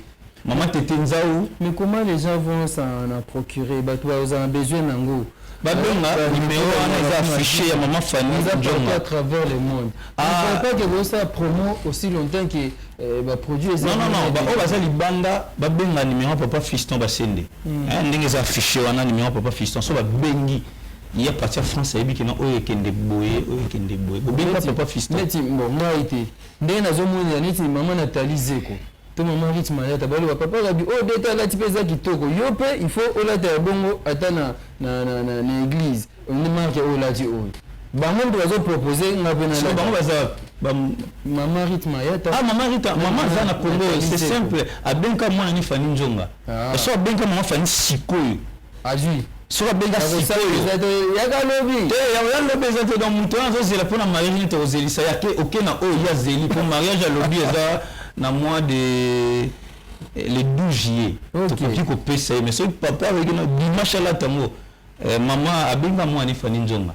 mama Tete Nzau. Mais comment les gens vont s'en en procurer bato bakozala na besoin na yango babenga numero wana eza affiche ya mama Fanny Eza partout Ndionga. à travers le monde. Ah. Je ne crois pas que bosala promo aussi longtemps que euh, ba produits eza Non, non, non, ba oyo baza libanda babenga numero ya papa Fiston Basende. Eh, ndenge eza affiche wana numero ya papa Fiston so babengi Il y a parti ya France ayebi kina oyo ekende boye oyo ekende boye bobenga papa fiston neti bon ngai te ndenge nazomonela neti mama Nathalie Zeko to mama Rich Mayata baloba papa Gabi oyo oh, deta alati mpe eza kitoko yo mpe il faut olata ya bongo ata na, na, na, na, na eglise nde marke oyo olati oyo bango mpe bazopropose nga mpe na bango baza mama Rich Mayata ah mama Rich mama aza na Congo c'est simple abenka mwana ni Fanny Njonga ah. so abenka mama Fanny sikoyo azwi soki abenga sikoyoyakalobilobi eza te donc moto wana azozela mpo na mariage neti ozelisa ya te oke na oyo ye azeli mpo mariage alobi eza na mois de eh, le 12 juillet tokoki kopesa ye mais soki papa akoki na dimanche alata yango eh, mama abenga mwana efani nzonga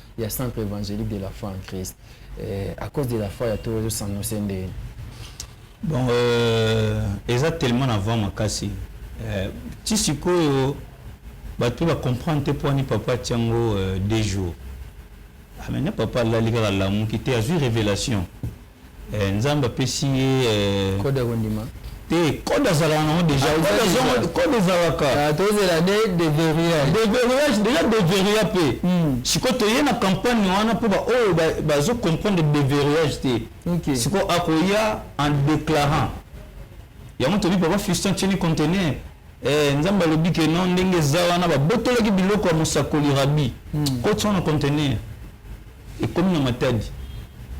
ya centre évangélique de la foi en Christ euh, à cause de la foi ya to ezo s'annoncer ndenge bon euh, eza tellement na vent makasi euh, ti sikoyo bato ba comprendre te poani papa atia yango euh, deux jours amene ah, papa alali kaka alamuki te azwi révélation Eh, nzambe apesi ye eh, kode ya kondima te kode azalaka nango deja ah, kode ezalaka ah, tozela de deverillage deverillage deja deverilla mpe hmm. sikoyo toye na campagne wana mpo baoyo bazo comprendre deverillage te sikoyo akoya en déclarant yango tobi papa fiston tieni contener eh, nzambe alobi ke non ndenge eza wana babotolaki biloko ya mosakoli rabi hmm. kotia na contener Ekomi na Matadi.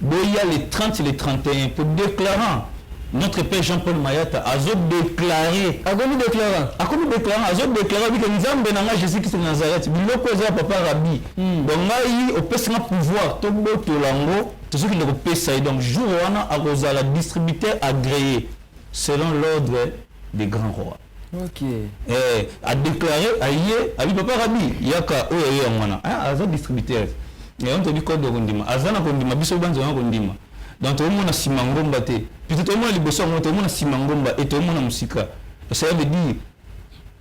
Boya le 30 le 31 po declarant notre père Jean Paul Mayata azo declarer. Akomi declarant? Akomi declarant, azo declarer alobi ke Nzambe na ngai Jesus Christ de Nazareth, biloko eza ya papa Rabbi. Donc ngai opesi nga pouvoir tobotola yango, tozo kende kopesa ye. Donc jour wana akozala distributeur agree selon l'ordre des grands rois. Okay. Eh, a déclaré aye abi papa Rabi yaka oyo aye yango wana. Ah, aza distributeur. Mais on te dit code kondima. Aza na kondima biso banzo na kondima. Donc to mona sima ngomba te. Puis to mona liboso ngomba to mona sima ngomba et to mona musika. Ça veut dire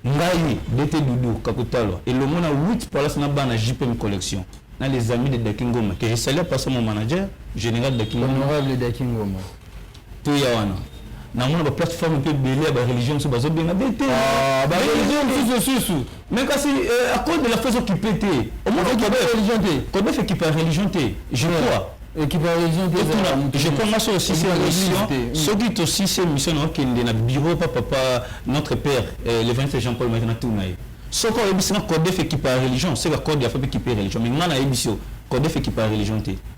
ngai dete doudou kakutalwa elongo na 8 palace na bana jpm collection na les amis de dakingoma que je salue par mon manager général dakingoma honorable dakingoma to ya wana namona ba plateforme mpe ebele ya ba religion mosusu bazobenga be te ah, ba religion mosusu susu mais kasi euh, à cause de la fausse occupé te omona religion te kobefe ekipa religion te je crois ekipa religion te je crois nga soki osisi émission soki tosisi émission na okende na bureau pa papa notre père euh, le 20 jean paul maki natuna ye soki oyebisi nga kodefe ekipa religion seka code ya fape ekipe religion mais nga nayebisi yo kodefe ekipa religion te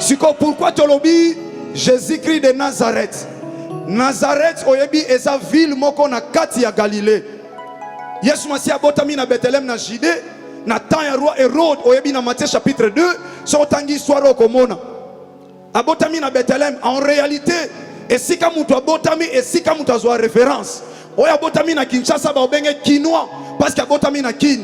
siko pourquoi tolobi Jésus-Christ de Nazareth Nazareth oyebi eza ville moko na kati ya Galilée Yesu Masiya abotami na Bethlehem na Judée na temps ya roi Hérode oyebi na Matthieu chapitre 2 soki otangi histoire okomona abotami na Bethlehem en réalité esika moto abotami esika moto azwa référence oyo abotami na Kinshasa baobenge kinois parce que abotami na Kin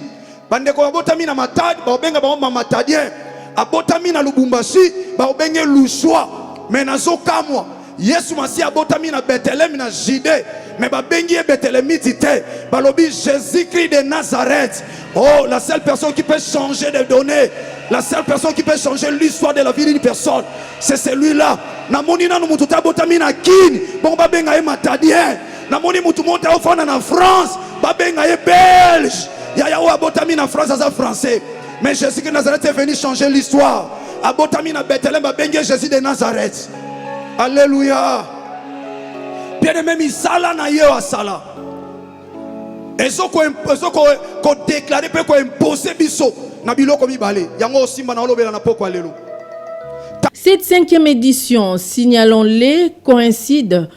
Bandeko babotami na Matadi bakobenga bango Mamatadien, abotami na Lubumbashi bakobenge Luswa. Me nazokamwa Yesu Masiya abotami na Beteleme na Jide, me babengi ye Betelemiti te, balobi Jésus-Christ de Nazareth. Oh, la seule personne qui peut changer de données, la seule personne qui peut changer l'histoire de la vie d'une personne, c'est celui-là. Namoni nanu mutu te abotami na Kin, bongo babenga ye Matadien. namoni mutu mote aofanda na france babenga ye belge yaya oyo abotami na france aza français mais jésus de nazareth est venu changer l'histoire abotami na bethelem babengi ye jésus de nazareth alleluya bien aime misala na ye oyo asala ezokodeklare mpe koimpose biso na biloko mibale yango osimba na olobela na pokwa lelo Cette cinquième édition, signalons-les, coïncide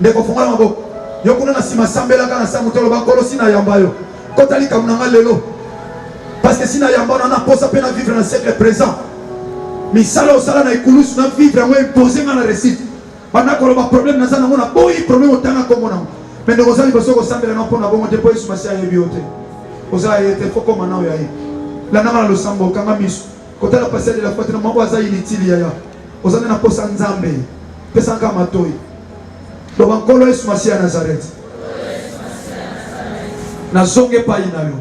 ndeko fungola maboko yo kuna na nsima sambelaka na sango toloba nkolo si nayamba yo kota likambo na nga lelo parce que si nayamba ona naposa mpe na vivre na siècle présent misala osala na ekulusu na vivre yango impose nga na récite banda koloba problème naza nango na boyi problème otanga nkombo nango me ndeko oza liboso kosambela na mpo na bongo te mpo yesu masi ayebi yo te oza ye te fokoma nao ya ye landanga na losambo okanga miso kotala pasi ya lela fatina mwango aza inutile yaya oza nde na posa nzambe pesanga matoi loba nkolo yesu masiya ya nazarete nazongi epai na yo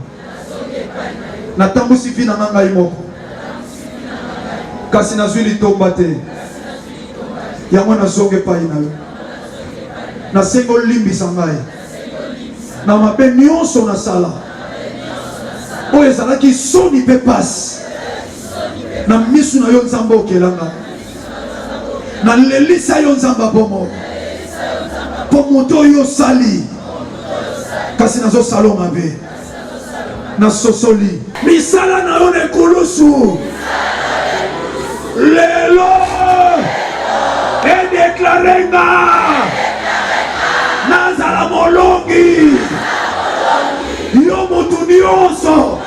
natambwisi vi na nga ngai moko kasi nazwi litomba te yango nazongi epai na yo nasengi olimbisa ngai na mabe nyonso nasala oyo ezalaki soni mpe pasi na misu na yo nzambe okelanga nalelisa yo nzambe abomo mpo moto oyo osali kasi nazosala mabe na sosoli misala na yo na ekulusu lelo edeklare nga nazala molongi yo motu nyonso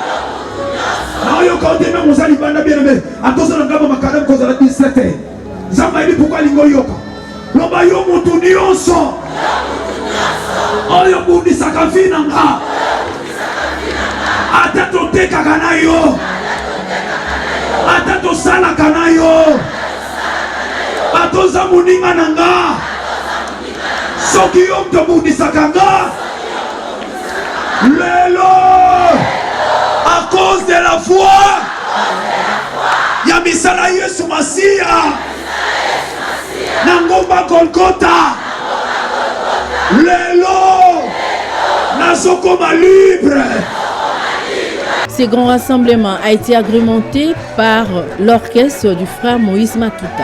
nayoka oteme mozali banda bien aime atozala ngambo makalamu kozala distraite nzambe ayebi pourkui alingi oyoka Loba yo mutu nyonso oyo bundisaka vi na nga ata totekaka na yo ata tosalaka na yo ata oza moninga na nga soki yo moto obundisaka nga lelo a cause de la foi ya misala yesu masiya na ngomba Golgota. Lelo nazokoma libre. Ce grand rassemblement a été agrémenté par l'orchestre du frère Moïse Matuta.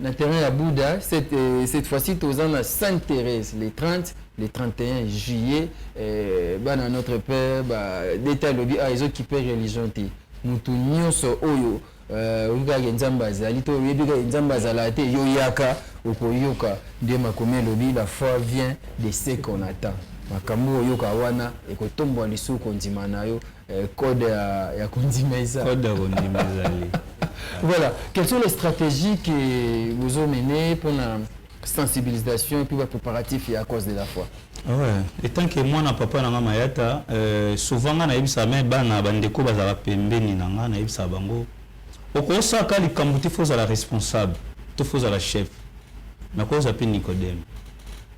na terrain ya Bouddha cette, euh, cette fois-ci toza na Sainte Thérèse le 30 le 31 juillet euh, bana notre père ba deta lobi ah ezo kipe religion te mutu nyonso oyo euh, oyebi kaka nzambe azali to oyebi kaka nzambe azala te yo yaka okoyoka nde makomi elobi la foi vient de ce qu'on attend makambo oyoka wana ekotombwa lisusu kondima na yo Eh, code ya, ya kondima eza code ya kondima ezali voilà quelles sont les stratégies que vous ont mené pour la sensibilisation et puis préparatif et à cause de la foi ah ouais. etant que mwana papa na nga mayata euh, souvent nga nayebisaka me bana bandeko bazalaka pembeni na nga nayebisaka bango Okosaka likambo te faut ozala responsable to faut ozala chef mais ko ozala pe Nicodème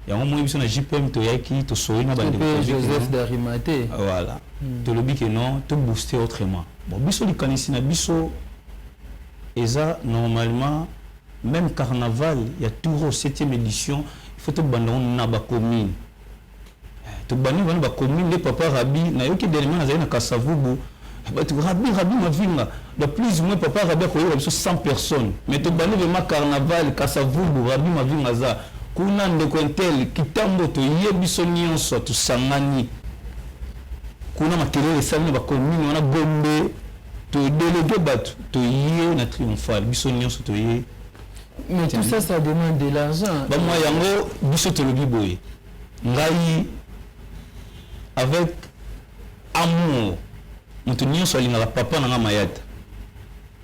yango moi biso na JPM toyaki tosoli na bande Joseph d'Arimate voilà hmm. tolobi que non to booster autrement bon biso likanisi na biso eza normalement même carnaval ya Touro 7e édition il faut to banda na ba commune Tobani bana ba commune nde papa Rabi nayoki dernièrement nazali na Kasavubu batu Rabi Rabi Mavinga donc plus ou moins papa Rabi akoyoka biso 100 personnes mais tobani vraiment carnaval Kasavubu Rabi Mavinga aza kuna ndeko intel kitambo toye biso nyonso tosangani kuna makelele esali na ba commune wana Gombe to délégué batu toye na triomphal biso nyonso toye mais tout ça ça demande de l'argent ba moi yango biso tolobi boye ngai avec amour moto nyonso alingaka papa na ngai mayata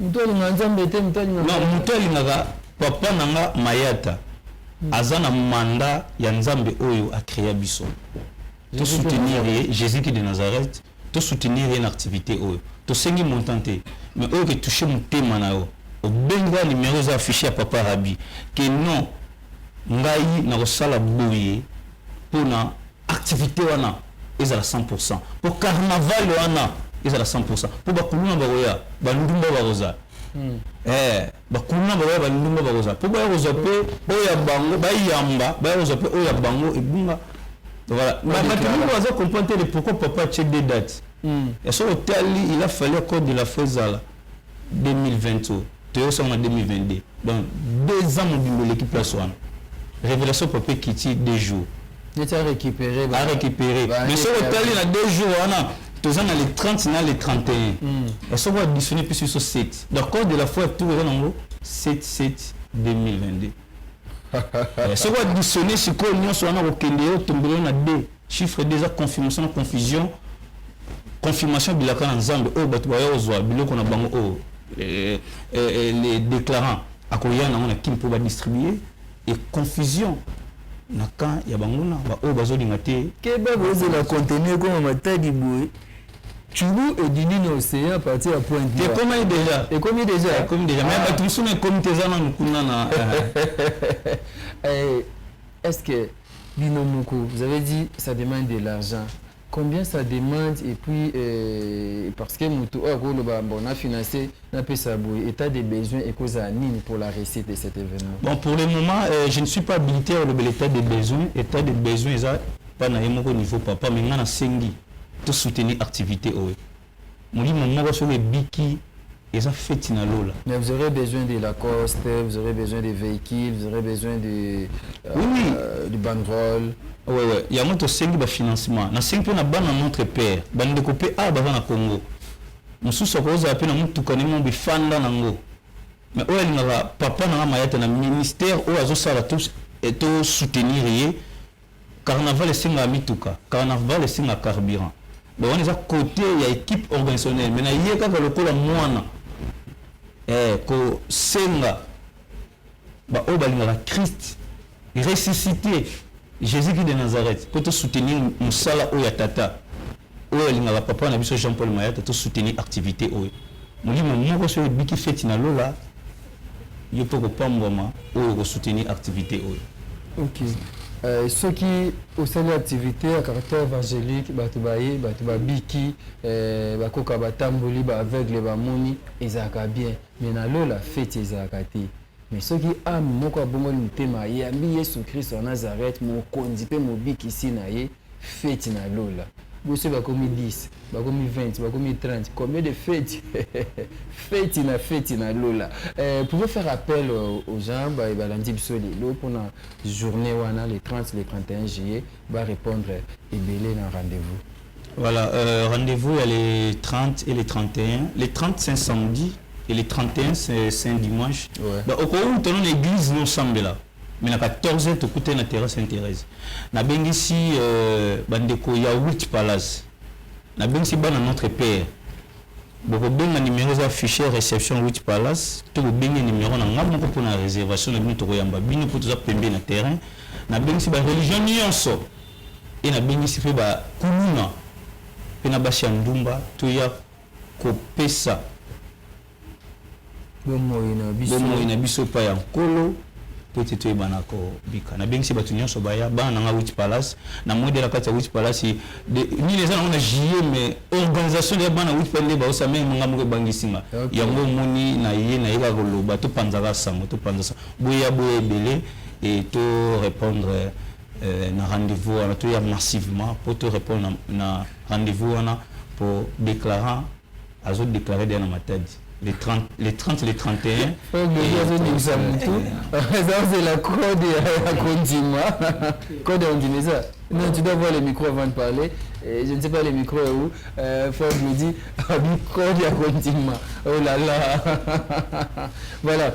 moto alingaka nzambe te moto alingaka non moto alingaka papa na ngai mayata hmm. aza na manda ya nzambe oyo akrea biso tosoutenir ye jésus ki de nazareth to soutenir ye na activite oyo tosengi montant te mais oyo ke touche motema na yo obenga numero eza affiche ya papa rabi ke non ngai nakosala boye mpona activite wana ezala 100 pourcent mpo carnaval wana ezala 100 pourcent mpo bakuluna bakoya bandumba bakozala hmm. eh. Ba kuluna bakoya ba ndumba bakozala po baya kozwa pe oyo ya bango bayamba baya kozwa pe oyo ya bango ebunga voilà Ba- bato mingi baza comprendre te de pourquoi papa atie deux dates ya soki otali il a fallu accord de la foi ezala 2020 oyo toyosaka na 2022 donc deux ans mobimba eleki place wana révélation papa ekiti deux jours neti a récupérer ba récupérer mais soki otali na deux jours wana toza na le 30 na le 31 soki additionne mpe biso 7 donc cause de la foi tour eza nango 7 7 2022 soki additionne sikoyo nyonso wana kokende yo tombelo na 2 chiffre 2 eza confirmation na confusion confirmation bilaka na nzambe oyo bato baya kozwa biloko na bango oyo les déclarants akoya nango na kin mpo badistribue et confusion na camp ya banguna ba oyo bazolinga te keba kozela contenu ekoma matadi boye Chulu et Dini na Océan à partir ya point de ekomi déjà ekomi déjà ekomi déjà mais ah. bato mosusu na ekomi te eza nanu kuna na eh, est-ce que bino moko vous avez dit ça demande de l'argent Combien ça demande et puis euh, parce que mutu oyo akoloba bon na financer na pesa boye etat de besoin ekozala nini pour la réussite de cet événement bon pour le moment euh, je ne suis pas habilité à olobela état de besoin état de besoin eza pa na ye moko niveau papa mais nga nasengi to soutenir activité oyo molimo moko soki ebiki eza feti na lola mais vous aurez besoin de la coste vous aurez besoin de véhicule vous aurez besoin de euh, oui, oui. Euh, du banderole ouais, ouais. yango tosengi bafinancement nasengi mpe na bana notre père bandeko mpe awa baza na congo mosusu akozala mpe na motuka ndenge mo bifanda nango mais oyo alingaka papa nanga mayata na ministère oyo azosala to soutenir ye Carnaval esengaka mituka, carnarval esengaka carburant donc wana eza cote ya equipe organisationnelle mais na ye kaka lokola mwana eh, kosenga baoyo balingaka Christ ressuscite Jésus-Christ de Nazareth mpo tosoutenir mosala oyo ya Tata. Oyo alingaka papa na biso Jean Paul Mayata to soutenir activite oyo. Molimo moko soki ebiki feti na lola yo pe okopambwama oyo oko soutenir activite oyo. Ok. Euh, soki osali activité ya caractère évangélique bato baye bato babiki euh, bakoka batamboli ba aveugle bamoni ezalaka bien mais na lola feti ezalaka te Mais soki ame moko abongoli motema ayambi yesu christo ya Nazareth mokonzi pe mobikisi na ye feti na lola bo soki bakomi 10 bakomi 20 bakomi 30 combien de feti feti na feti na lola eh, pouvez faire appel aux gens baye balandi biso lelo pona journee wana le 30 le 31 juillet ba repondre ebele na rendez-vous Voilà, euh, rendez-vous il y a les 30 et les 31. Les 30 c'est un samedi et les 31 c'est un dimanche. Ouais. Bah, au cours où tu l'église, nous sommes là. Mais la 14 tu écoutes la terrasse Sainte-Thérèse. Na bien ici, euh, bandeko, il y a 8 palaces. Na bien ici, ban notre père. Boko benga numéro za fichier réception 8 palace to ko benga numéro na nga moko pona réservation na bino to ko yamba bino po toza pembe na terrain na bengi si ba religion nyonso et na bengisi pe ba kuluna pe na basi ya ndumba to ya ko pesa bomoyi na biso, bomoyi na biso epayi ya Nkolo po ete to yebana ko bika. Na bengisi batu nionso ba ya, bana na nga Witch Palace, na moni deja na kati ya Witch Palace de nini eza na ngo na juillet mais organisation deja bana Witch Palace nde ba osa meme nga moko ebangisi nga. Okay. Yango omoni na ye na ye kaka ko loba to panza ka sango to panza sango. Bo ya bo ya ebele et to repondre eh, na rendez-vous wana toya massivement mpo to répondre na, na rendez-vous wana mpo déclarant azo déclare deya na matadi les 30, les 30, les 31 ozobimisa motu ezazela code ya kondima code ya kondima eza Non, tu dois voir les micros avant de parler. Et je ne sais pas les micros où. Euh, Ford me dit, ah, micro, il y a Oh là là. voilà.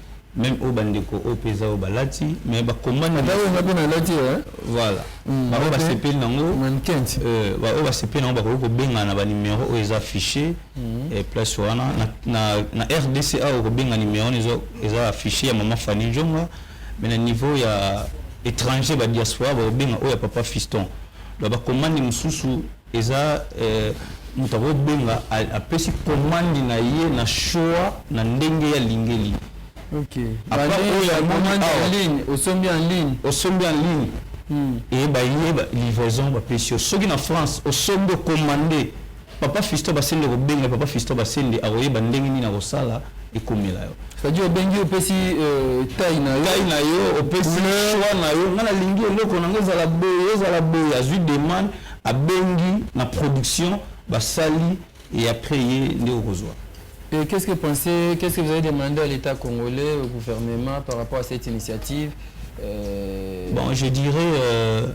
meme oyo bandeko oyo mpe eza oyo balati mais bakombanata oyo nga mpe nalati eh? voilà mm, baoyo basepeli nango euh, baoyo basepeli nango bakoki kobengana na banimero oyo eza affiche mm. eh, place wana na rdc awa okobenga nimero wana eza affiche ya mama fani njonga mais na niveau ya étranger badiaspora bakobenga oyo ya papa fiston donc bakomandi mosusu Eza eh, moto akobenga apesi komandi na ye na shoa na ndenge ya lingeli osombi en ligne osombi en ligne hmm. eye baye livraison bapesi yo soki na france osombi okomande papa fisto basende kobenga papa fisto basende akoyeba ndenge nini akosala ekomela yo c'est-à-dire obengi opesi euh, taille na yo taille na yo opesi choix na yo ngai nalingi eloko nango ezala boye ezala boye azwi demande Abengi na production basali et après ye nde okozua. Et qu'est-ce que pensez, qu'est-ce que vous avez demandé à l'Etat congolais, au gouvernement par rapport à cette initiative? Euh... Bon, je dirais euh,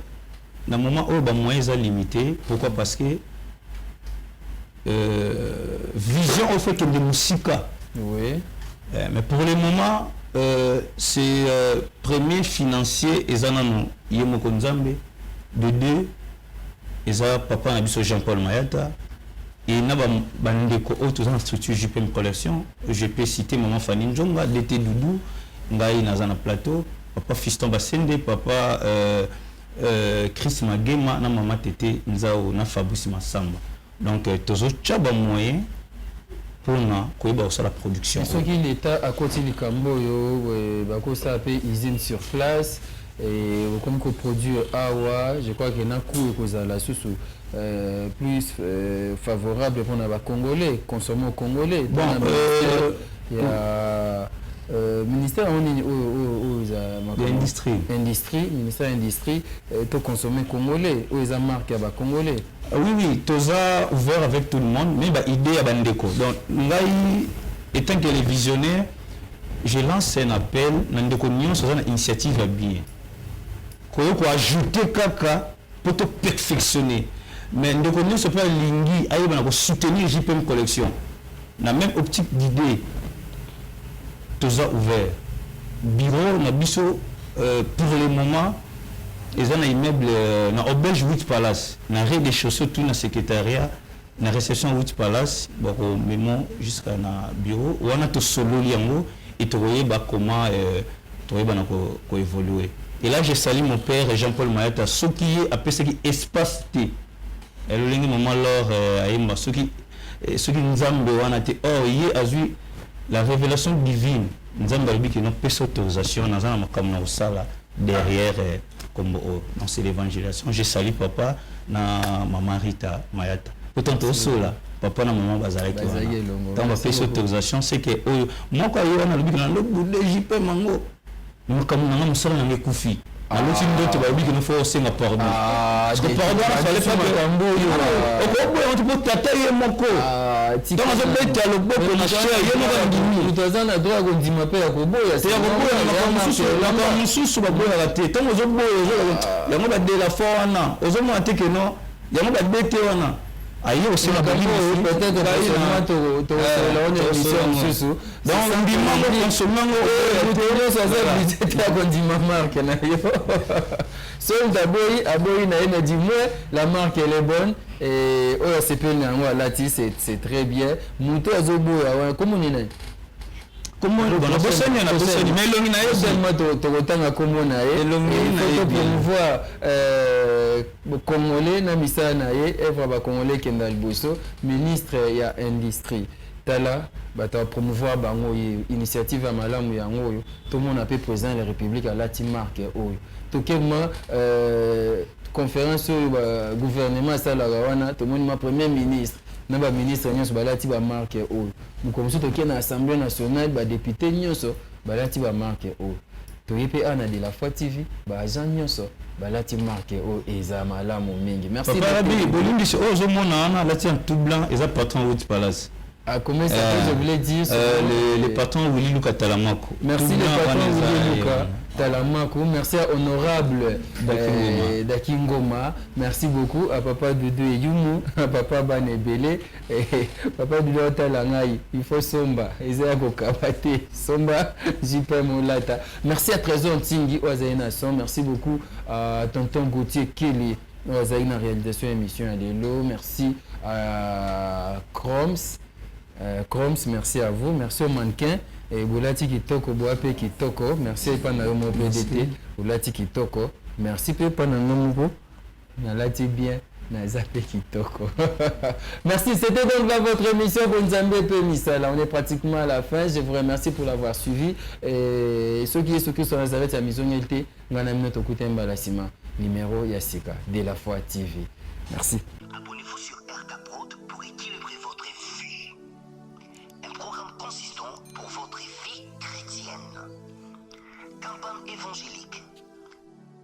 na moment oyo ba moyens eza limité, pourquoi? Parce que vision oyo faut ekende mosika oui. eh, mais pour le moment euh, c'est euh, premier financier eza nano ye moko nzambe de deux eza papa na biso jean paul mayata et na bandeko oyo toza na structure jpm collection je peux citer maman fani njonga dt doudou ngai naza na plateau papa fiston basende papa euh, Euh, Chris Magema na Mama Tete Nzao na Fabrice Massamba. Donc euh, tozo chaba moyen pona koyeba kosala production. Soki l'État akoti likambo oyo euh, bakosala pe usine sur place et okomi ko produire awa, je crois que na coût ekozala susu euh, plus euh, favorable pona ba Congolais, consommer au Congolais. Bon, euh, ya euh, ministère yango nini oyo oyo oyo eza makambo- industrie industrie ministère ya industrie euh, to consommer congolais oyo eza marque ya ba congolais Ah oui oui toza ouvert avec tout le monde mais ba idée ya bandeko donc ngai étant que le visionnaire je lance un appel na ndeko nyonso aza na initiative ya bien koyo ko ajouter kaka po to perfectionner mais ndeko nionso pe alingi ayeba na ko soutenir JPM collection na meme optique d'idee toza ouvert bureau na biso pour le moment eza na immeuble na auberge huit palace na rez de chaussee tout na secretariat na reception Witch Palace bako memo jusqu'à na bureau wana to sololi yango et tokoyeba comment euh, toyeba na ko, ko évoluer et là je salue mon père Jean-Paul Mayata soki ye apesaki espace te eh, lolenge maman Laure euh, ayemba soki eh, soki nzambe wana te or ye azui la révélation divine Nzambe alobi que non pesa autorisation naza na makambo na kosala derrière eh, kombo oyo donc c'est l'évangélisation je salue papa na maman Rita Mayata pourtant tosola papa na maman bazalaki wana ntango bapesi autorisation c'est que oyo moko aye wana alobi que nalobude jipe mango makambo na nga mosala na nga ekufi aloti ndoto balobi kino fo osenga pardon ah, pardon wana fale pakambo oyo ah. okoboya moto mpo tata ye moko ah, ntango azobeta loboko na cher ye moko andimi moto aza na droit ya kondima mpe ya koboya te ya koboya makambo mosusu baboyaka te ntango ozoboya yango badela fo wana ozomona te keno Yango ba DT wana aye kosala kondima marke na yo soki moto aboyi aboyi na ye mais du moins la marque elle est bonne oyo asepeli na yango alati c'est très bien moto azoboya wana komoni na ye bosani na bosani mais elongi na ye tokotanga komona ye elongi na ye promouvoir Bo congolais na misala na ye œuvre ya ba congolais ekenda liboso ministre ya industrie tala batu a promouvoir bango ye initiative ya malamu yango oyo tomona pe president ya la republique alati marque oyo toke ma conference oyo ba gouvernement asalaka wana tomoni ma premier ministre na ba ministre nionso balati ba marque oyo mokolo mosusu toke na assemblee nationale ba depute nionso balati ba marque oyo toye pe awa na de la foi TV ba agent nionso balati marque oyo eza malamu mingi merci papa rabi bolimbisi oyo ozo mona wana alati en tout blanc eza patron route palace Ah, comment ça euh, je voulais dire euh, le, le patron Willy Luka Talamako. Merci le patron Willy Luka Talamako. Merci à honorable Dakingoma. Euh, Merci beaucoup à papa Doudou et Yumu, à papa Banebele. Papa Dula otala ngai il faut somba eza ya kokaba te somba jpm olata merci à Tresor Ntingi oyo azali na son merci beaucoup à tonton Gauthier Kele oyo azali na réalisation ya émission ya lelo merci à Croms euh, Croms merci à vous merci au mannequin et bolati kitoko boa pe kitoko merci epa na yo mo PDT bolati kitoko merci pe epa na nga moko nalati bien naza mpe kitoko merci c'était donc dans votre émission bonzambe mpe misala on est pratiquement à la fin je vous remercie pour l'avoir suivi et soki yesu kristo ya nazareth ya mizongeli te ngai na mino tokuta mbala nsima numéro ya sika de la foi tv merci Abonnez-vous sur RK Prod pour équilibrer votre vie. Un programme consistant pour votre vie chrétienne. Campagne évangélique